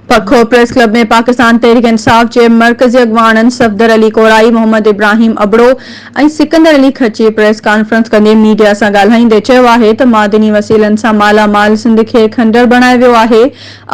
پکو press club ۾ Pakistan Tehreek Insaf جي مرڪزي اڳواڻن صفدر علي ڪورائي، محمد ابراهيم ابڙو ۽ سڪندر علي کچي پريس ڪانفرنس ڪندي ميڊيا سان ڳالهائيندي چيو آهي ته معدني وسيلن سان مالا مال سنڌ کي کنڊر بڻايو ويو آهي،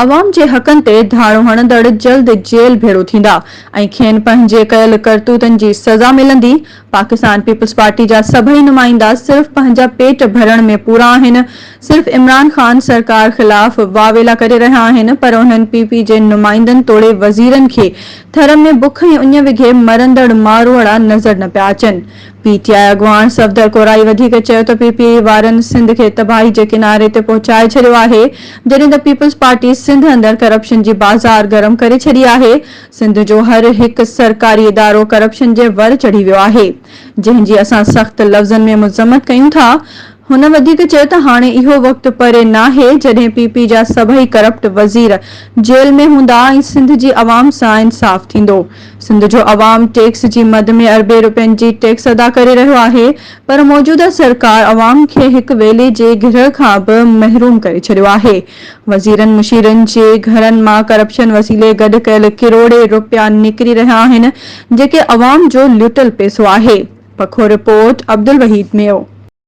عوام جي حقن تي ڌاڙو هڻندڙ جلد جيل ڀيڙو ٿيندا ۽ کين پنهنجي ڪيل ڪرتوتن جي سزا ملندي، پاڪستان پيپلز پارٽي جا سڀئي نمائندا صرف پنهنجا پيٽ ڀرڻ ۾ پورا آهن، صرف عمران خان سرڪار خلاف واويلا ڪري رهيا آهن پر انهن پي پي جي نمائندن توڙي وزيرن کي ٿر ۾ بک ۽ اڃ وگهي مرندڙ ماروئڙا نظر نه پيا اچن. پي ٽي آء اڳواڻ صفدر ڪورائي وڌيڪ چيو ته پي پي اي وارن سنڌ کي تباهي جي ڪناري تي پهچائي ڇڏيو آهي جڏهن ته پيپلز پارٽي سنڌ اندر ڪرپشن جي بازار گرم ڪري ڇڏي آهي سنڌ جو هر هڪ سرڪاري ادارو ڪرپشن جي ور چڙهي ويو آهي، جنهن جي اسان سخت لفظن ۾ مذمت ڪيون ٿا. هن وڌيڪ چيو ته هاڻي اهو وقت پري ناهي جڏهن پي پي جا سڀئي ڪرپٽ وزير جيل ۾ هوندا ۽ سنڌ جي عوام سان انصاف ٿيندو. سنڌ جو عوام ٽيڪس جي مد ۾ اربين روپين جي ٽيڪس ادا ڪري رهيو آهي پر موجوده سرڪار عوام کي هڪ ويلي جي گرهه کان به محروم ڪري ڇڏيو آهي. وزيرن مشيرن جي گهرن مان ڪرپشن وسيلي گڏ ڪيل ڪروڙين رپيا نڪري رهيا آهن جيڪي عوام جو لٽيل پئسو آهي، پکو رپورٽ، عبدالوحيد ميو.